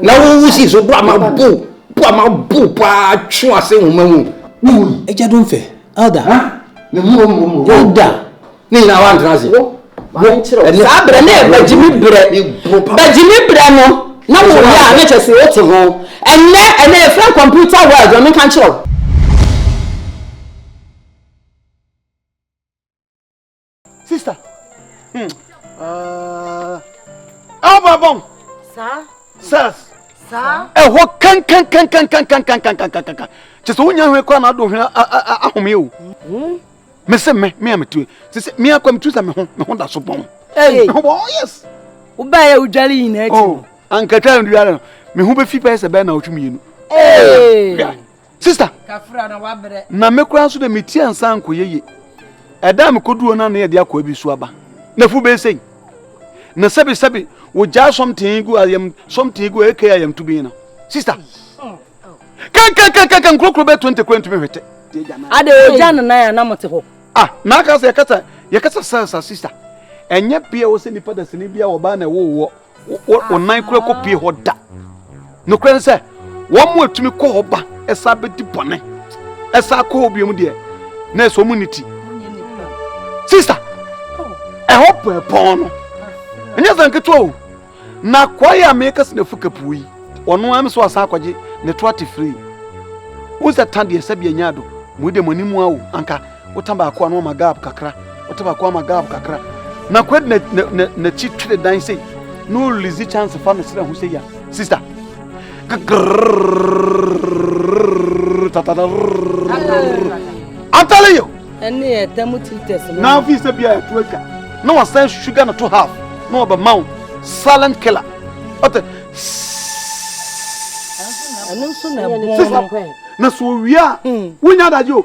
Na wo wo si so bo ama bo bo ama bo paa twe ase nwoma mu. Ne mu yi. Agya dom fɛ. Elder. Ha? Ne mu mu mu. Elder. Ne nyinaa wa ntena ase. Wo. Wo. Ɛne. Saa brɛ ne bagyimi brɛ. Bagyimi brɛ no. Na wo yɛ a ne kyɛ se o te ho. Ɛnɛ ɛnɛ yɛ fɛn computer world na menka nkyerɛ wo. sista hmm. ah. ababɔn sars ɛhɔ kankankan kyɛ sɛ wonya hwɛ kora na ado hwɛ ahome o me sɛ me me a metue sɛ sɛ me akɔ metu sɛ me ho me ho da so bɔn me ho bɔn yes wobaeɛ wodware nyinaa akyi ankatwa nduare no me ho bɛfi bɛyɛ sɛ bɛyɛ na wotwe mmienu Sista, na me koraa nso de me ti ansa ankɔ yeye. Ɛda a mekoduo no na yɛde akɔ abi so aba. Na fu bɛyɛ sɛn? Na sɛbi sɛbi wogyaa something gu ayam something gu aka ayam tubin no. Sista, kankankankan nkurokuro bɛyɛ 20 koraa ntumi hwete. Ade ogya no nan a na mote hɔ. Ah, na aka sɛ yɛkasa yɛkasa sasa sista. Ɛnyɛ bea wɔ sɛ nipa dasani bia wɔ baa na ɛwɔ wɔ. wɔn nan kura kɔpie hɔ da nokorɛ ne sɛ wɔn mu atumi kɔ hɔ ba ɛsa bɛdi bɔne ɛsa kɔ hɔ biom deɛ na ɛsɛ wɔn ne ti sista ɛhɔ pɔɛpɔn no ɛnyɛ sɛ nketewa o na akoa yi a meka sɛ nafu kapuo yi ɔno ara me so asan akɔgye ne to ate firi wo sɛ ta deɛ sɛbi anya do mu de mo anim awo anka Wota baako a na wama gap kakra, wota baako ama gap kakra. Na kwad na na na n'akyi twere dan sei. Na ɔrelease chance fa ne srɛ ho sɛ ya. Sister. I'm telling you. Ɛne yɛ tɛm tutɛs no. Na afi sɛ bia ɛto atwa. Na wasan sugar no to half. Na ɔbɛ ma wo silent killer. Ɔte. Ɛno nso na ɛbɔn no. Na so wie a, wonya adagye o.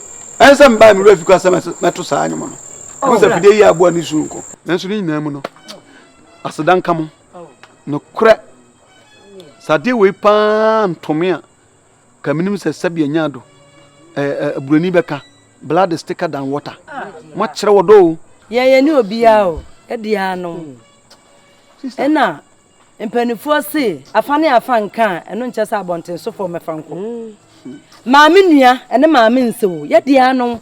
Ɛnsɛ mbae me werɛ afi koraa sɛ mɛto saa nnwom no. Wohu sɛ fidie yi aboa ne suro nko. Nanso ne nyinaa mu no, aseda nka mo. Nokorɛ, sɛ adeɛ wei paa nto me a, ka menim sɛ sɛbi anya ado. Ɛɛ Buroni bɛka, blood is thicker than water. Moakyerɛ wɔ dɔ o. Yɛn yɛne obiara o, ɛdeɛ anom. Ɛna Mpanimfoɔ se afa ne afa nka a, ɛno nkyɛ sɛ abɔntensofoɔ mmɛfa nkɔ. Maame nua ne maame nse o, yɛ deɛ ano.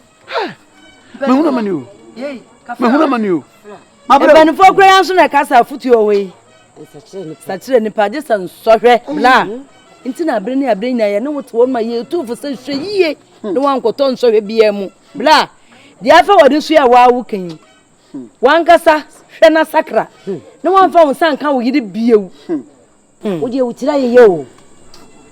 Mahunu amane o, mahunu amane o. Mpanimfoɔ kura yɛn nso na ɛka sɛ afutuo wɔ yi. Sakyerɛ nipa gye sɛ nsɔhwɛ bla. Nti na abere ne abere nyinaa yɛ ne wote wɔn ma yɛtu fo sɛ hwɛ yie ne wankɔtɔ nsɔhwɛ biara mu bla. Deɛ afɛ wɔde nso yɛ wɔawo kan yi. Hmm. Wankasa hwɛ na sakra hmm. na wamfa wo nsa nka wo yere biewu. Hmm. Wodeɛ wo tiri ayeyɛ o.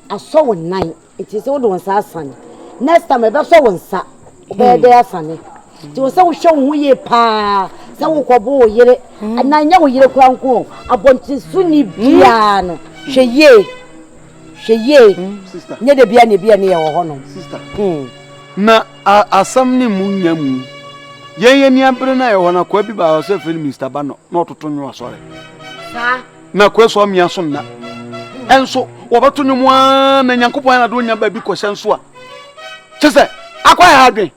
Asɔ wo nan nti sɛ wode wo nsa asane. Next time ɛbɛsɔ wo nsa wobɛyɛ dɛ asane. Nti wo sɛ wohwɛ wo ho yie paa sɛ wokɔbo wo yere na nyɛ wo yere kora nko abɔnten so ni biara no hwɛ yie hwɛ yie nyɛ da bia ne bia ne yɛ wɔ hɔ no. Na A Asɛm no mu nnya mu. Yɛn ani abere no a yɛwɔ hɔ no, akoa bi baa hɔ sɛ yɛfrɛ no Mister Bano na ɔtoto nnwom asɔre. Saa. Na akoa so amia so nna. Ɛnso wɔbɛto nnwom ara na Nyankopɔn ayɛ n'ade onya baabi kɔhyɛ nso a. Kyɛ sɛ akoa yɛ adwen.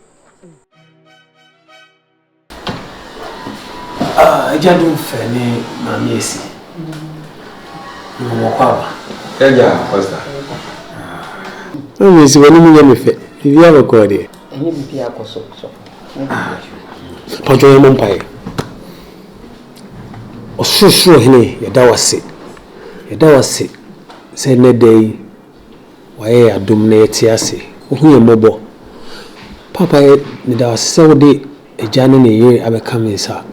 Ah, Agya Domfɛ ne Maame Asi. Wɔwɔ kwa ba. Agya, Pastor. Ɛnyɛ si wɔ ne mu nyɛ me fɛ. Biribi abɔ kɔɔ deɛ. Ɛnyɛ biribi akɔ so so. Pɔtɔ yɛ mo mpaeɛ. Ɔsorosoro hene yɛda wo ase. Yɛda wo ase sɛ nnɛ da yi Wayɛ yɛn adom na yɛte ase. Ohu yɛn mmɔbɔ. Paapa, meda wo ase sɛ wode agya ne ne yere abɛka me nsa.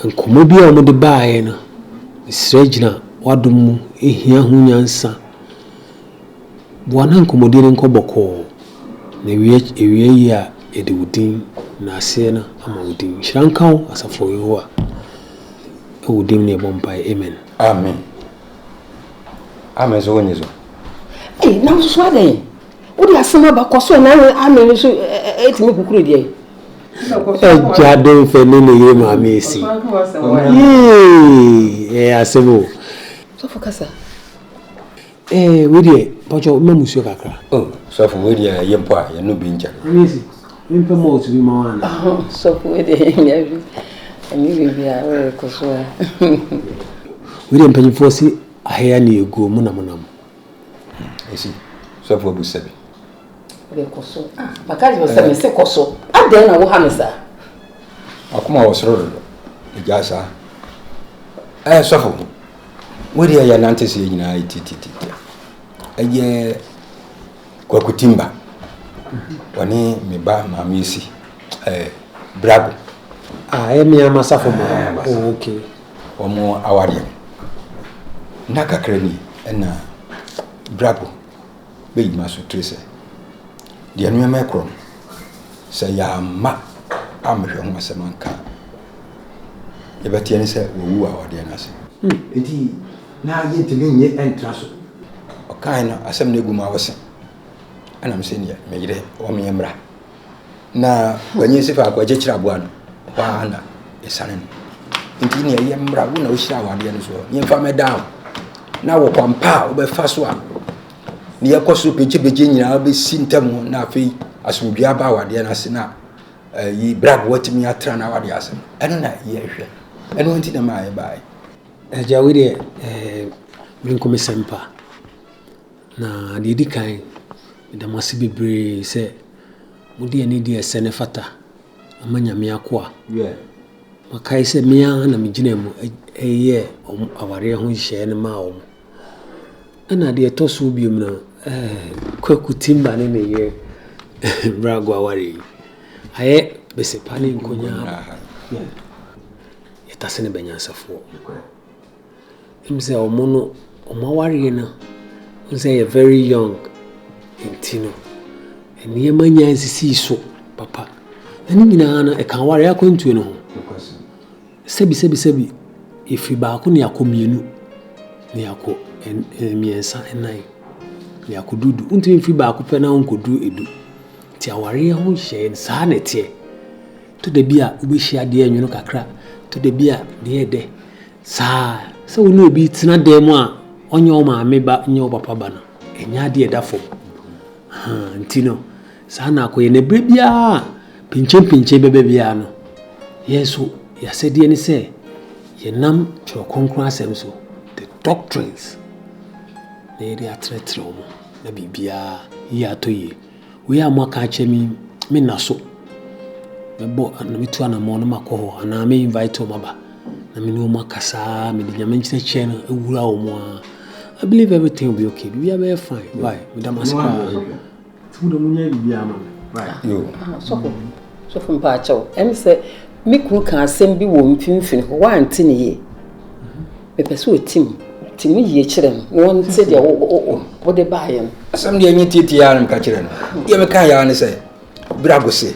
Nkɔmmɔ bi a wɔde baeɛ no, mesrɛ gyina w'adom mu, ɛhia ho nyansa. Boa na nkɔmmɔdie no nkɔ bɔkɔɔ, na ɛwie yie a, yɛde wo din na aseɛ no ama wo din. Nhyira nka wo, Asafo Yehowa. Wɔ wo din mu na yɛbɔ mpaeɛ, amen. Amen. Amen so wonye so. Ee, na nso adɛn? Wode asɛm aba kɔ so na amen nso ɛtumi kukuru deɛ. Agya de mfɛ ne ne yere maame esi. Yee, ɛyɛ asɛm o. Sɔfo kasa. Ee, wei deɛ, pɔtɔ mma musuo kakra. Oh, sɔfo wei deɛ ɛyɛ mpo a, yɛn no bi nkyɛ. Mempɛ malt bi mma wo anaa? Sɔfo wei deɛ yɛnnya bi ɛne biribi a worekɔ so a. Wei deɛ mpanyimfoɔ se ahea ne aguo mu na monam. Esi, sɔfo abusa bi. Wode kɔ so a. Maka kyerɛ wo sɛ mese kɔ so. Adɛn na woha me saa? Akoma wɔ soro dodo. Egyae saa. Ɛɛ sɔfo, wei deɛ yɛnante seɛ nyinaa titititi. Ɛyɛ. Kwaku Timba, wɔne me ba maame asi ɛɛ Brago. Ah, ɛyɛ me ama safo ma. Oh, okay. Wɔn awareɛ no, nna kakra ni ɛna Brago bɛyi ma so tiri sɛ, deɛ nneɛma ɛkorɔ no, sɛ yɛamma ammɛhwɛ ho asɛm anka a, yɛbɛteɛ ne sɛ wawu awadeɛ no ase. Hmm, enti Na yentumi nnye ntra so. Ɔkae no, asɛm no agu mu awo sen. Ɛna me se neɛ, me yere, wɔ menyɛ mmra. Na wanyin se faako agye kyerɛ aboa no, hɔ ara na yɛsane no. Nti neɛ yɛ mmra, wo na wohyira awadeɛ no soɔ, yɛmfa mmɛda wo. Na wɔ kwan pa a wobɛfa so a ne yɛkɔ so begyebegye nyinaa bɛsi ntam ho, na afei asomdwie aba awadeɛ no ase, na ɛyi bra boa tumi atra no awadeɛ ase no, ɛno na yɛhwɛ. Ɛno nti na maa yɛbaeɛ. Agya wei deɛ me nko me sɛmpa na deɛ ɛdi kan meda mo ase bebree sɛ mode ani di ɛsɛ ne fata ama nyame akoa makae sɛ me ara na megyina mu ɛyɛ wɔn awareɛ ho nhyehyɛeɛ no maa wɔn ɛna deɛ ɛtɔ so bio no kwaku timba ne ne yere brago awareɛ yi ayɛ bɛsɛ pa ne nkonyaa yɛtase no bɛnyansafoɔ ɛnim sɛ ɔmo no ɔmo awareɛ no ɔmo sɛ yɛ very young nti no nneɛma nyinaa nsisii so papa ɛne nyinaa no ɛka awareɛ akwantuo no ho sɛbi sɛbi sɛbi yɛfiri baako ne akɔ mmienu ne akɔ mmiɛnsa nnan ne akɔ dudu wontumi mfiri baako pɛ na wonkɔduru edu nti awareɛ ho hyɛɛ saa na ɛteɛ To da bi a wubehyia deɛ ɛnwono kakra, to da bi a deɛ ɛyɛ dɛ saa. Sɛ wo ne obi retena dan mu a ɔnyɛ wo maame ba, ɔnyɛ wo papa ba no, ɛnyɛ adeɛ a ɛda fam. Ahaa, nti no, saa na akɔyɛ. Na berɛ biara a pinkyenpinkyen bɛba biara no, yɛn nso yɛn asɛdeɛ ne sɛ yɛnam Twerɛ Kronkron asɛm so, the doctrines, na yɛde atrɛtrɛw mu na biribiara yɛ atɔ yie. Wei a moaka akyerɛ me yi, menna so. Mɛbɔ ana metu anammɔn na makɔ hɔ anaa me invite wɔn aba na me ne wɔn akasa ara mede Nyame nkyerɛkyerɛ no awura wɔn ara. I believe everything will be okay. Biribiara bɛyɛ fine. Why? Meda mo ase paa. Tumu dɛ mo nyɛ biribiara ma me. Why? Yo. Ah, sɔfo. Sɔfo mpaakyɛw. Ɛne sɛ me kunu ka asɛm bi wɔ mfimfini hɔ, wante ne yie. Mepɛ sɛ otim, tim no yie kyerɛ no, na ɔnte deɛ wo, wo, wo, wode baeɛ no. Asɛm deɛ ɛnyɛ tietie ara na meka kyerɛ no. Deɛ mekaeɛ ara ne sɛ, Birago se,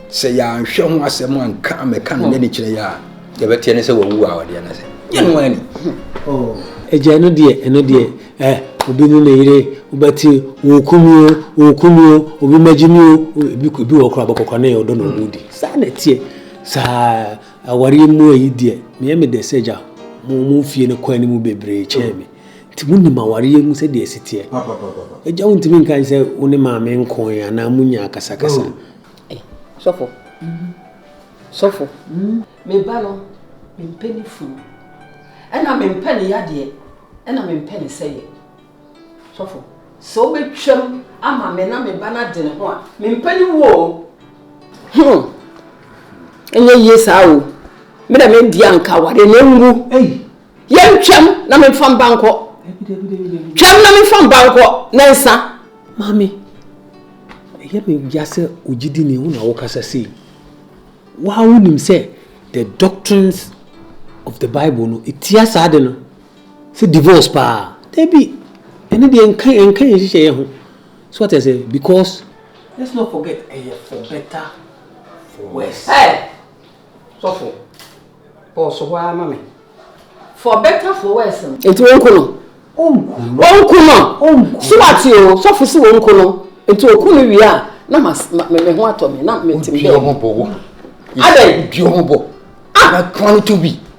sɛ yɛanhwɛ ho asɛm anka ammɛka no n'ani kyerɛ yɛ a, deɛ ɛbɛteɛ ne sɛ wawu a ɔdeɛ no sɛ nyɛ no ara ni. Agya, ɛno deɛ, ɛno deɛ, eh, obi ne ne yere, wobɛte, wɔɔku me o, wɔɔku me o, obi mmɛgye me o, ebi, ebi wɔ hɔ koraa, bɛkɔkwane ɔdɔ na ɔmudi. Saa na ɛteɛ, saa. Awareɛ mu ayi deɛ meyɛ me dɛ sɛ agya mo mo fie no kɔ anim bebree kyɛn me nti mo nim awareɛ mu sɛdeɛ ɛsi teɛ agya wo ntumi nka sɛ wo ne maame nkoe anaa mo nya akasakasa. Eh sɔfo sɔfo me ba no me mpɛ ne funu ɛna me mpɛ ne yadeɛ ɛna me mpɛ ne sɛyɛ. Sɔfo, sɛ wobɛtwam ama me na me ba no ade ne ho a, mempɛ ne wuo o. Hmm, ɛnyɛ yie saa o. Me na medi anka aware na enwu. Yɛntwam na memfa mba nkɔ. Twam na memfa mba nkɔ na nsa. Maame, ɛyɛ me ya sɛ ogyidi ne wo na wokasa sei. Waa wonim sɛ the doctrines of the Bible no, ɛtia saa de no. Sɛ divorce paa dabi ɛno deɛ nka ɛnka yɛn nhyehyɛeɛ ho so wate aseɛ because. Let's not forget ɛyɛ for better for worse. Ɛ sɔfo ɔɔso hɔ ara ma me for better for worse no. Nti wɔn ko no. Wɔn ko no. So wate o sɔfo si wɔn ko no nti oku no wie a na ma me me ho atɔ me na me te me. Obi ɔmo bɔ wo. Adɛ. Obi ɔmo bɔ. Ah. Na kwan to bi.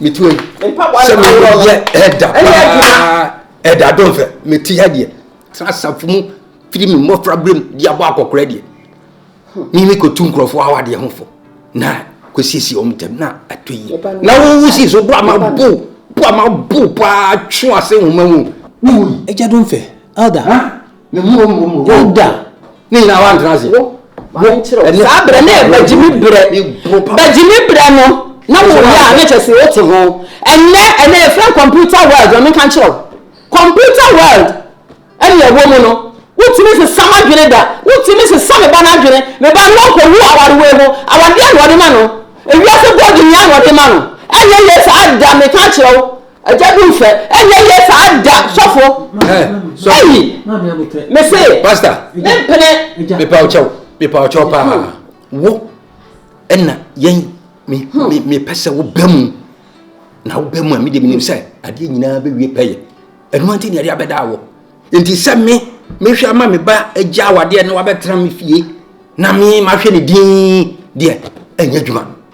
mete hɔ yi sɛ meyɛ ɛda paa ɛda domfɛ mete ha deɛ tena asafo mu firi me mmɔfra berɛm de abɔ akɔkora deɛ ne me kɔtu nkurɔfoɔ awadeɛ ho fo na kɔsiesie ɔm ntam na atɔ yie na wowu sii so bo ama bo bo ama bo paa twe ase nwoma mu wui ɛgya domfɛ elder ne mu mu mu hɔ da ne nyinaa wantena ase saa berɛ ne bagyimi berɛ bagyimi berɛ no na woyɛ a ne kyɛ sɛ wote ho ɛnɛ ɛnɛ yɛfrɛ computer world ɔno nka nkyerɛ wo computer world ɛne ɛwɔ mu no wotumi sesa m'adwene da wotumi sesa me ba no adwene me ba no ɔkɔwu awarewa mu awadeɛ na ɔde ma no ewiase bɔɔde nyinaa na ɔde ma no ɛnyɛ yɛ saa da meka kyerɛ wo Agya bi nfɛ ɛnyɛ yie saa da sɔfo. Ɛyi mese. Pastor. Ne mpene. Mepa ɔkyɛw mepa ɔkyɛw paa wo ɛna yɛn me hmm. me me pɛ sɛ wo bɛ mu na wo bɛ mu a mi de mi nim sɛ adeɛ nyinaa bɛ wie pɛyɛ ɛnu ante ne ɛde abɛda awɔ nti sɛ me mehwɛ ama me ba agya awadeɛ na wabɛtena me fie na me mahwɛ ne din deɛ ɛnyɛ adwuma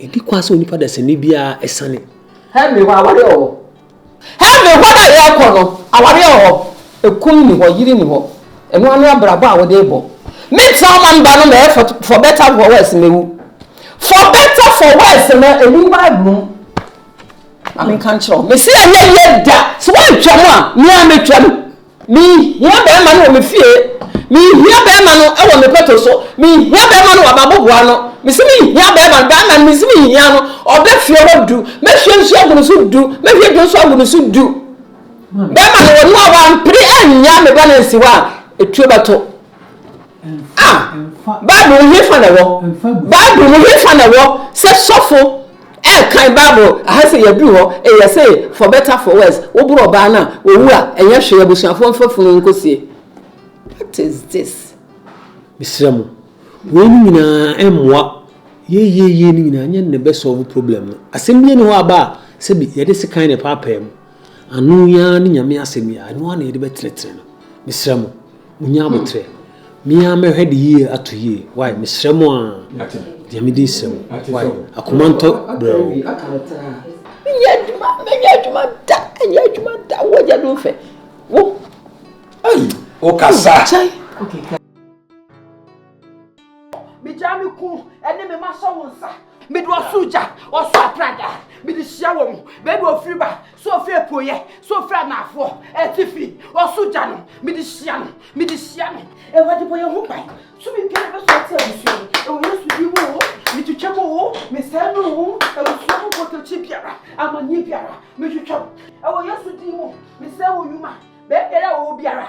Ɛdi kwa sɛ onipa dasani biara asiane. Henry hɔ awareɛ wɔ hɔ. Henry hɔ no a yɛrekɔ no, awareɛ wɔ hɔ, ɛkunu nni hɔ, yere nni hɔ. Ɛno ara ne abrabɔ a wode rebɔ. Mentena wo man ba no mɛyɛ for for better for worse mɛwu. For better for worse no ɛnim Bible mu. Ma menka nkyerɛ wo. Mese ɛnyɛ yie da. Sɛ woantwa mu a, me ara mɛtwa mu. Mehia bɛrima no wɔ me fie Mehia bɛrima no wɔ me pɛto so Mehia bɛrima no wɔ m'aboboa ano Mese mehia bɛrima no Bɛrima no mese mehia no Ɔbɛ fie hɔ du Mɛhwie nsuo agu ne so du Mɛhwie dwo nso agu ne so du Bɛrima no wɔ no a wampere annya me ba no ansi hɔ a Etuo bɛto A Bible mu hefa na ɛwɔ? Bible mu hefa na ɛwɔ sɛ sɔfo ɛrekan Bible aha sɛ yɛaduru hɔ, ɛyɛ sɛ for better for worse, woboro ɔbaa no a, owu a, ɛnyɛ hwee, abusuafoɔ mfa funu nkɔsie. What is this? Mesrɛ mo, wei no nyinaa ɛmmoa. Yeieiei no nyinaa nyɛ ne bɛsɔlve problem no. Asɛm biara nni hɔ a aba a, sɛbi yɛde sekan na ɛpaapae mu. Ano yi ara ne Nyame asɛm yi a, ɛno ara na yɛde bɛtenetene no. Mesrɛ mo, monyɛ aboterɛ. Me ara mɛhwɛ de yie ato yie. Wai, mesrɛ mo ara. Deɛ me din srɛ wo. Wai, akoma ntɔ brɛoo. Menyɛ adwuma, menyɛ adwuma da, menyɛ adwuma da. Wo agya no fɛ. Wo. Ei, wo kasa. Kyɛn. Megyaa me kun ne me ma sɔ wo nsa. Mede ɔsoro gya, ɔsoro aprada, mede hyia wɔn. Baabi ofiri ba, sɛ ofiri apueɛ, sɛ ofiri anaafoɔ, atifi, ɔsoro gya no, mede hyia no, mede hyia no. Awurade bɔ yɛn ho ban. Tumi biara bɛsɔ ate abusua yi. Ɛwɔ Yesu din mu o, metwitwa mu o, mesɛe no o, abusua mu bɔtɔkyi biara, amanneɛ biara, metwitwa mu. Ɛwɔ Yesu din mu, mesɛe wo nnwuma, baabiara a wɔwɔ biara.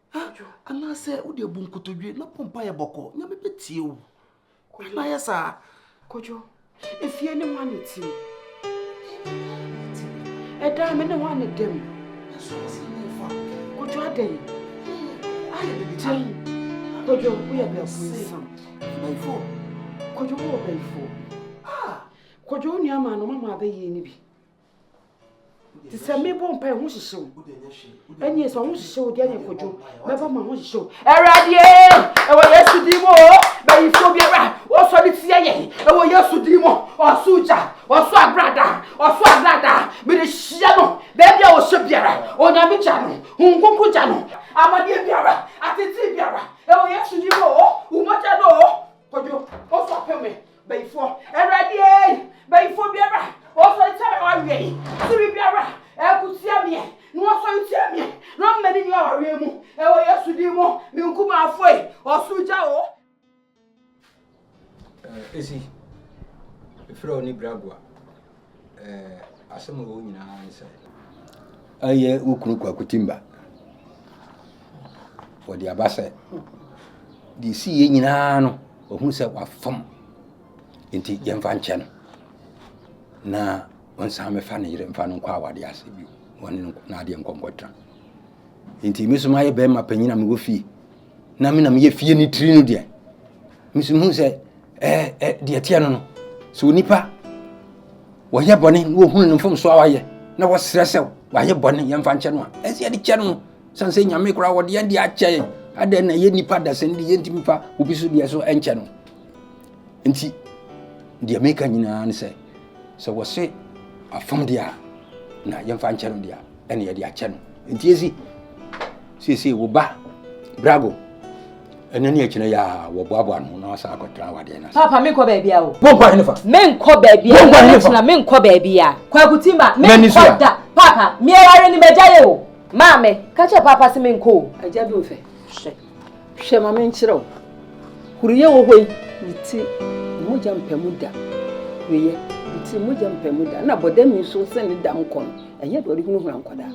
Ha! Anaasɛ wode abu nkotodwe na bɔ mpaeɛ bɔkɔɔ. Nyame bɛtie wo. Kojo. Na yɛ saa. Kojo, efie ne hwan ne tim? Ɛdan me ne hwan ne dɛm? Ɛso ɔsɛ ne fa. Kojo adɛn? Ayɛ bibi kyɛn. Kojo, woyɛ bɛɛfo nsam. Bɛɛfo. Kojo, wowɔ bɛɛfo. Ah! Kojo, wo nua maa no mama abɛyie ne bi. te sɛ mebɔ mpa ɛho hyehyew ɛneɛ sɛ ɔho hyehyew deɛ ne kɔdwo mɛba ma ho hyehyew awuradeɛ ɛwɔ yesu din mu o bɛyifoɔ biara wɔsɔ de tia yɛn ɛwɔ yesu din mu ɔso gya ɔso agrada ɔso agrada mede hyia no baabi a wɔhyɛ biara onyame gya no honkonko gya no amadeɛ biara atete biara ɛwɔ yesu din mu o womɔgya no o kɔdwo ɔso apɛ me Bayifoɔ, Awurade ei! Bayifoɔ biara a ɔsɔre tia me a waweɛ yi, tumi biara a ɛko tia meɛ, na wasɔre tia meɛ, na ɔmma ne nni awareɛ mu, wɔ Yesu din mu, me nkumaafoɔ yi, ɔsoro gya o! Esi, Efrɛ wo ne Bragua. eh, asɛm a ɛwɔ nyinaa ne sɛ. Ɛyɛ wo kunu Kwaku Timba. Wɔde aba sɛ deɛ ɛsi yɛ nyinaa no ɔhu sɛ wafam nti yɛmfa nkyɛ no na ɔnsan mɛfa ne yere mfa no nkɔ awadeɛ ase bio wɔne no n'adeɛ nkɔnkɔtra nti me so mayɛ bɛrima panyin a mewɔ fie na me na meyɛ fie ne tiri no deɛ mesu hu sɛ ɛɛ ɛ deɛ teɛ no no sɛ onipa wɔyɛ bɔne na wɔhunu no mfomsoɔ a wayɛ na wɔserɛ sɛ wayɛ bɔne yɛmfa nkyɛ no a ɛsɛ yɛde kyɛ no sane sɛ nyame koraa wɔde yɛn de akyɛ yɛn adɛn na yɛ nnipa dasɛn de yɛntumi fa obi so deɛ so ɛnkyɛ no Nti, deɛ meka nyinaa ne sɛ, sɛ wɔse afam deɛ a, na yɛmfa nkyɛ no deɛ a, ɛne yɛde akyɛ no. Nti esi, seesei wo ba, Brago, ɛnɛ ne akyina yɛ a wɔboaboa no na wasan akɔtra wadeɛ no ase. Papa, menkɔ baabi a o. Wonkɔ henefa? Menkɔ baabi a, na mekyina menkɔ baabi a. Kwaku Timba, menkɔ da. Papa, meɛware ne magya yɛ o. Maame, ka kyerɛ papa se menkɔ o. Agya bi mfɛ. Hwɛ. Hwɛ ma menkyerɛ wo. Huruye wɔ hɔ yi. Ne ti mogya mpa mu da. Huruye, ne ti mogya mpa mu da. Na bɔdam yi nso sɛ ne dam kɔ no, ɛnyɛ deɛ ɔde hunahuna nkwadaa.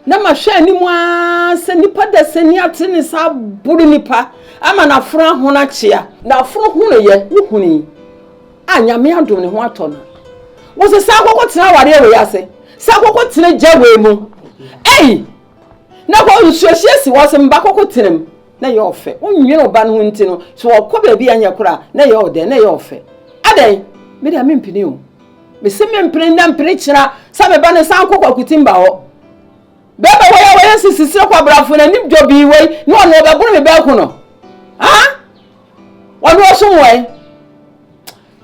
Na mahwɛ anim ara sɛ nipa dasani ate ne sa aboro nipa ama n'afono ahono akyea. N'afono honoeɛ, wohunii a Nyame adom ne ho atɔ no. Wose san kɔkɔtena awareɛ wei ase, san kɔkɔtena gya wei mu. Ei! Na hɔ nsuohyeɛ si hɔ, sɛ mma kɔkɔ tena mu, na ɛyɛ ɔfɛ. Wonwene wo ba no ho nti no, sɛ ɔkɔ baabi a ɛnyɛ koro a, na ɛyɛ ɔdɛn? Na ɛyɛ ɔfɛ. Adɛn? Me deɛ mempene o. Mese mempene nnɛ mpene kyena sɛ me ba no san kɔ Kwakutimba hɔ. Bɛɛba wei a wɔyɛ sisi sere kwabrafo no anim dwo bii wei ne ɔno ɔbɛboro me bɛɛko no. Ah? Ɔno ɔsom wɛn?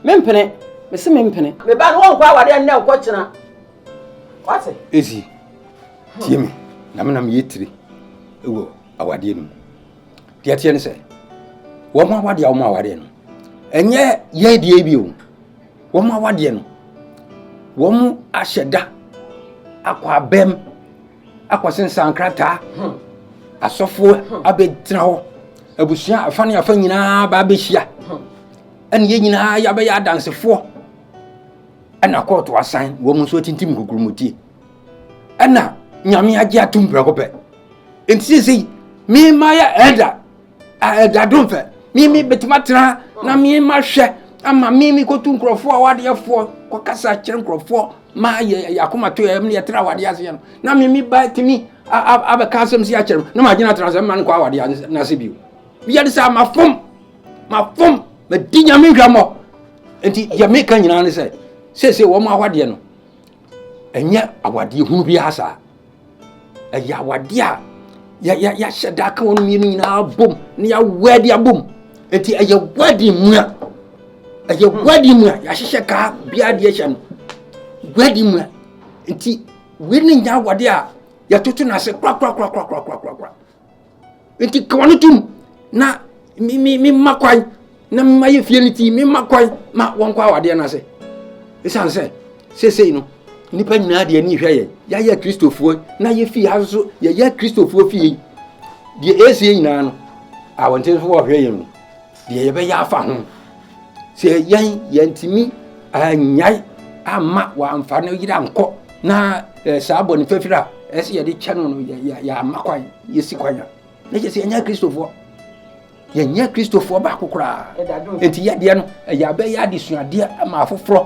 Mempene. Mese mempene. Me ba no wɔnkɔ awadeɛ nnɛ nkɔ kyena. Wate? Esi. Tie me, na me na meyɛ tire wɔ awadeɛ no mu. Deɛ teɛ ne sɛ, wɔn awadeɛ a wɔn awadeɛ no, ɛnyɛ yɛ deɛ bi o. Wɔn awadeɛ no, wɔn ahyɛ da akɔ abɛm, akɔsensan krataa, hmm. asɔfoɔ hmm. abɛtena hɔ, abusua afa ne afa nyinaa ba abɛhyia, hmm. ɛne yɛ nyinaa yɛabɛyɛ adansefoɔ, ɛna kɔɔto asan, wɔn nso atintim nkukurumutie. ɛna nyame agye atom prɛko pɛ nti sesei mema yɛ ɛda a ɛda dom fɛ meme bɛtumi atena na mema hwɛ ama meme kɔtu nkurɔfoɔ a wadeɛfoɔ kɔkasa kyerɛ nkurɔfoɔ ma yɛ akomato yɛ mene yɛtra awadeɛ aseɛ no na meme ba tumi abɛka asɛm si akyerɛ no na magyina tra sɛ mma no kɔ awadeɛ no ase bio yɛde sɛ mafom mafom madi nyame nhwammɔ nti yɛ meka nyinaa ne sɛ seesei wɔn awadeɛ no Ɛnyɛ awadeɛ hunu biara saa. Ɛyɛ awadeɛ a yɛahyɛ da aka wɔn mmienu nyinaa bom na yɛawɛde abom. Eti ɛyɛ wedding mu a ɛyɛ wedding mu a yɛahyehyɛ kaa biara deɛ hyɛ no. Wedding mu a nti wei ne nya awadeɛ a yɛtoto no ase korakorakorakorakorakorakora. nti kawa no tom na mema kwan na mema yɛ fie no ti mema kwan ma wɔnkɔ awadeɛ no ase ɛsiane sɛ seesei no nnipa nyinaa deɛ ani hwɛ yɛn yɛayɛ kristofoɔ na yɛfie ha nso yɛyɛ kristofoɔ fie deɛ ɛsie nyinaa no awɔntenfoɔ ɔhwɛ yɛn mu Deɛ yɛbɛyɛ afa ho. Sɛ yɛn yɛntumi annyae amma wɔamfa no yere ankɔ na eh, saa bɔne fafiri a ɛsɛ yɛde kyɛ no no yɛama kwan yɛsi kwan a na kyɛ sɛ yɛnyɛ kristofoɔ yɛnyɛ kristofoɔ baako koraa nti yɛdeɛ no ɛyɛ abɛyɛ adesuadeɛ ma afoforɔ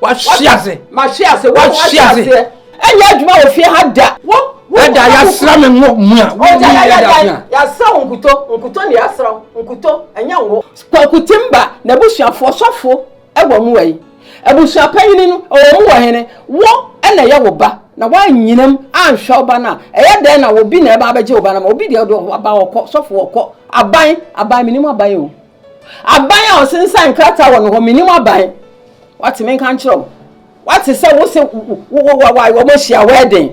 wahye ase mahye ase wahye aseɛ ɛnyɛ adwuma wɔ fie ha da ɛda yasra me ngo mu a yasra wo nkuto nkuto ne yasra wo nkuto ɛnyɛ ngo kwakutimba na abusuafoɔ sɔfoɔ ɛwɔ mu wɔ yi abusua panyini no ɛwɔ mu wɔ hene wo ɛna ɛyɛ wo ba na woanyinam anhwɛ wo ba no a ɛyɛ dɛn na obi na ɛba abɛgye wo ba no ma obi deɛ ɔde ɔba ɔkɔ sɔfoɔ ɔkɔ aban aban menim aban o Aban a ɔsensan nkrataa wɔ no hɔ, menim aban. Wate menka nkyerɛ wo. Wate sɛ wo se wɔn ahyia wɛɛden.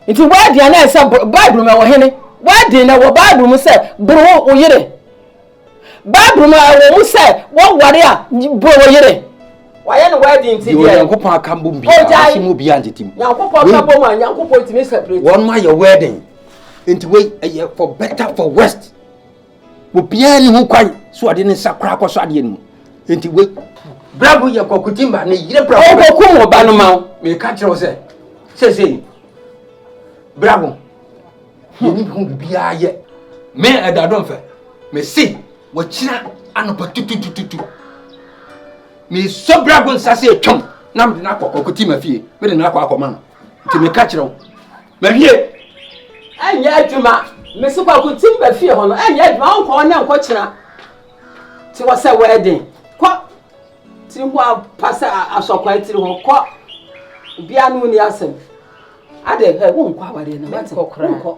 Nti wɛɛden a na ɛsɛ Bible mu ɛwɔ hene. Wɛɛden na ɛwɔ Bible mu sɛ boro wo yere. Bible mu ɛwɔ mu sɛ wɔware a boro wo yere. Wɔayɛ no wɛɛden nti deɛ. Onyankopɔn aka mbom bi a ɔsi mu obi angyete mu. Nyankopɔn aka mbom a Nyankopɔn tumi separate. Wɔn ayɛ wɛɛden. Nti wei ɛyɛ for better for worst. Obiara nni ho kwan sɛ ɔde ne nsa koraa kɔsɔ adeɛ no mu. Enti wei. Bravo yɛ Kwaku Timba ne yere Bravo. Ɔnkɔkum wo ba no ma wo. Meka kyerɛ wo sɛ seesei Bravo yɛni ho biribiara yɛ. Me Ɛda Domfɛ, mese wakyina anɔpa tututututu. Mesɔ Bravo nsa sɛ ɛtwam na mede no akɔ Kwaku Timba fie. Mede no akɔ akɔma no. Nti meka kyerɛ wo Mahwie! Ɛnyɛ adwuma! Mese Kwaku tim ba fie hɔ no, ɛnyɛ adwuma, wonkɔ hɔ nnɛ nkɔ kyena. Te hɔ sɛ wɛɛden. Kɔ! Tiri ho apa sɛ asɔkwaa tiri hɔ. Kɔ! Obiara ne wo ni asɛm. Ade, hɛ, wonkɔ awareɛ no, wate? Wonkɔ.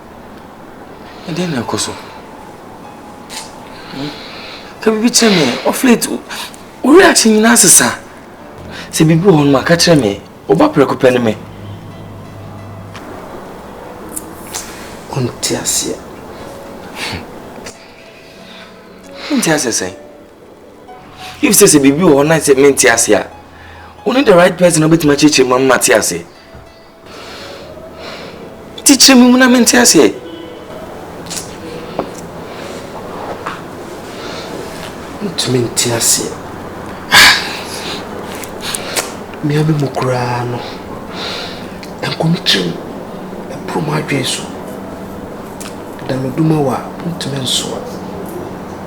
Ɛdeɛn na ɛkɔ so? Ka biribi kyerɛ me. Of late, wo reaction nyinaa sesa. Sɛ biribi wɔ hɔ no ma ka kyerɛ me. Woba prɛko pɛ ne me. Wonte aseɛ. Wonte aseɛ sɛn? If sɛ sɛ biribi wɔ hɔ na sɛ mente aseɛ a, wone the right person a wobɛtumi akyerɛkyerɛ mu ama mate aseɛ. Kyekyere me mu na mente aseɛ. Ntumi nte aseɛ. Mmea me mu koraa no, nkomikyerem ɛporo m'adwene so. Dameduma wɔ a, ntumi nsoa.